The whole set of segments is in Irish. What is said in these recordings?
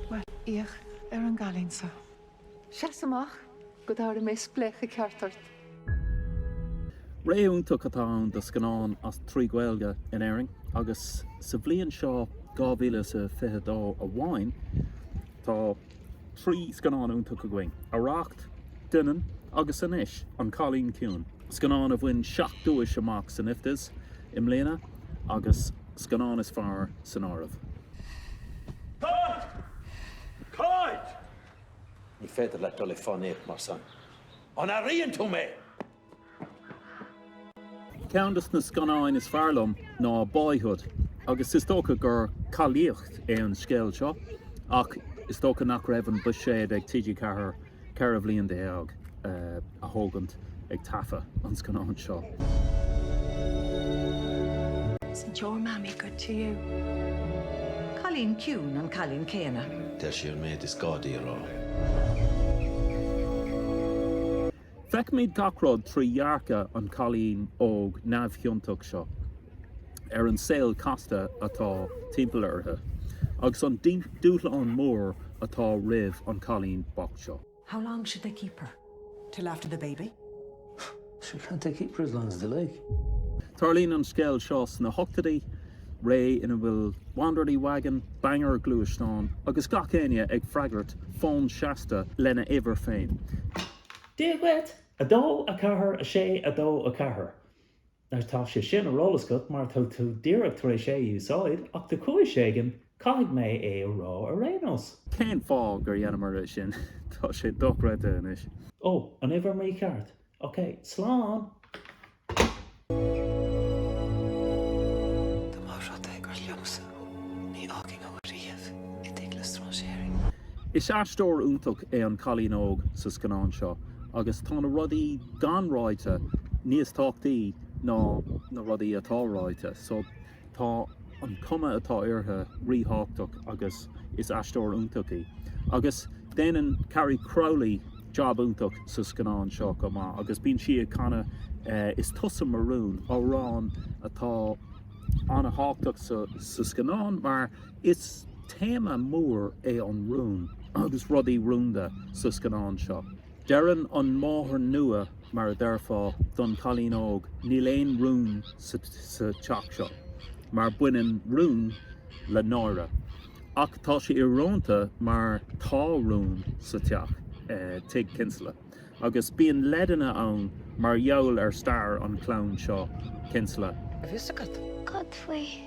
Bhuel, féach ar an gcailín seo. Seas amach go dtabharfaidh mé spléachadh ceart ort. Ré iontach atá ann do scannáin as... trí Ghaeilge in Éirinn agus sa bhliain seo 2022 amháin tá trí scannán iontach againn, Arracht, Doineann agus anois An Cailín Ciúin, scannán a bhain seacht nduais amach san IFTAs i mbliana agus. Scannán is fearr san áireamh. Cáit! Cáit! Ní féidir leat a dhul ag fánaíocht mar san. An airíonn tú mé? Ceann de na scannáin is fearr liom ná Boyhood agus is dócha gur cailíneacht é an scéal seo ach is dócha nach raibh an buiséad ag TG4 ceithre bhliain déag a thógaint ag taifeadh an scannáin seo. Isn't your Mammy good to you? Cailín ciúin an cailín céanna. Deir sí an méid is gá di a rá. Feicimid gach rud trí dhearcadh an cailín óg neamhchiontach seo ar an saol casta atá timpeall uirthi agus an dúshlán mór atá roimh an cailín bocht seo. How long should they keep her? Till after the baby? Sure, can't they keep her as long as they like? Tarlaíonn an scéal seo sna hochtaidí, ré ina bhfuil Wanderly Wagon, banger gluaisteáin agus gach éinne ag freagairt fóin seasta lena uimhir féin. Dia dhuit! 2 4 6 2 4 Anois tá sé sin ar eolas agat mar tá tú díreach tar éis é a úsáid ach de chúis éigin caithfidh mé é a rá ar aon nós. Cén fáth gur dheineamar é sin? Tá sé dochreidte anois. Ó, uimhir mícheart. Ok, slán! Dá mba rud é gur liomsa thú, ní fhágfainn thú ariamh i dteach le stráinséirí. Is aisteoir iontach é an cailín óg sa scannán seo agus tá na rudaí gan ráite níos tábhachtaí ná na rudaí atá ráite. So tá an cuma atá uirthi rí-thábhactach agus is aisteoir iontach í. Agus déanann Carrie Crowley jab iontach sa scannán seo chomh maith agus bíonn sí ag canadh Is tusa mo rún, amhrán atá an-thábhactach sa scannán mar is téama mór é an rún agus rudaí rúnda sa scannán seo. Deireann an máthair nua, mar a deirfeá, don chailín óg, Níl aon rún sa teach seo, mar baineann rún le náire. Ach tá sé íorónta mar tá rún sa teach, Tigh Kinsella, agus bíonn leideanna ann mar gheall ar stair an chlann seo, Kinsella. Bhí a fhios agat? Cad faoi?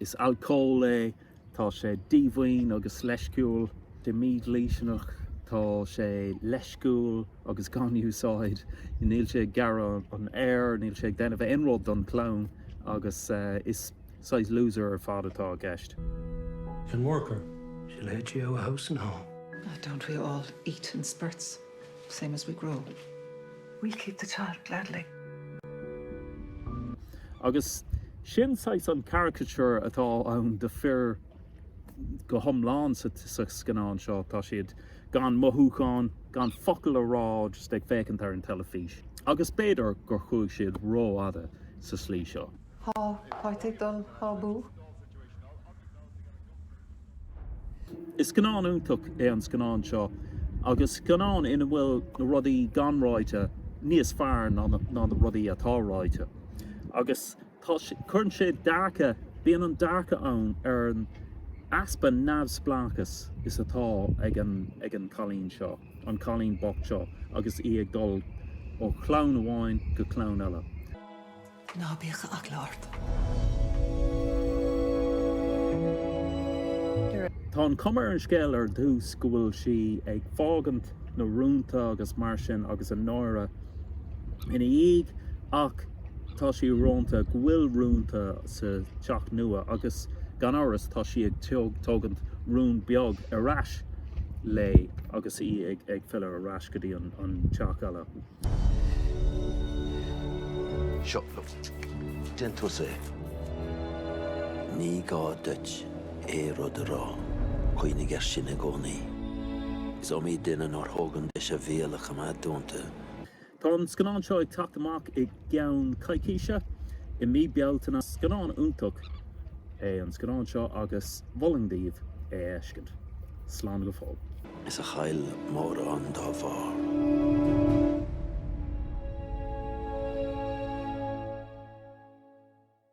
Is alcól é, tá sé díomhaoin agus leisciúil. De mídhlisteanach, tá sé leisciúil agus gan úsáid. Níl sé ag gearradh an fhéir, níl sé ag déanamh aon rud don chlann agus is saghas loser ar fad atá i gceist. Can work her. She'll eat you out of house and home. Don't we all eat in spurts? same as we grow. We'll keep the child gladly. Agus sin saghas an caricature atá ann de fir go hiomlán sa scannán seo. Tá siad gan mothúcháin, gan focal a rá, just ag féachaint ar an teilifís. Agus b'fhéidir gur chuaigh siad rófhada sa slí seo. Thá áit ag dul thá budh. Is scannán iontach é an scannán seo agus scannán ina bhfuil na rudaí gan ráite níos fearr ná na rudaí atá ráite. Agus tá, cuireann sé dearcadh, bíonn an dearcadh ann ar an easpa neamhspleáchas is atá ag an, ag an cailín seo, an cailín bocht seo agus í ag dul ó chlann amháin go clann eile. Ná bíodh eagla ort. Tá an chuma ar an scéal ar dtús go bhfuil sí ag fágaint na rúnta agus mar sin agus an náire ina dhiaidh ach tá sé íorónta go bhfuil rúnta sa teach nua agus gan amhras tá sí ag tógaint rún beag ar ais léi agus í ag filleadh ar ais go dtí an teach eile. Seo, déan tusa é. Ní gá duit aon rud a rá, cuimhnigh air sin i gcónaí. Is iomaí duine nár thóg an deis a bhéal a choimeád dúnta. Tá an scannán seo ag teacht amach i gceann coicíse, i mí Bealtaine. Scannán iontach é an scannán seo agus mholfainn daoibh é a fheiscint. Slán go fóill. is a chaill mórán dá bharr.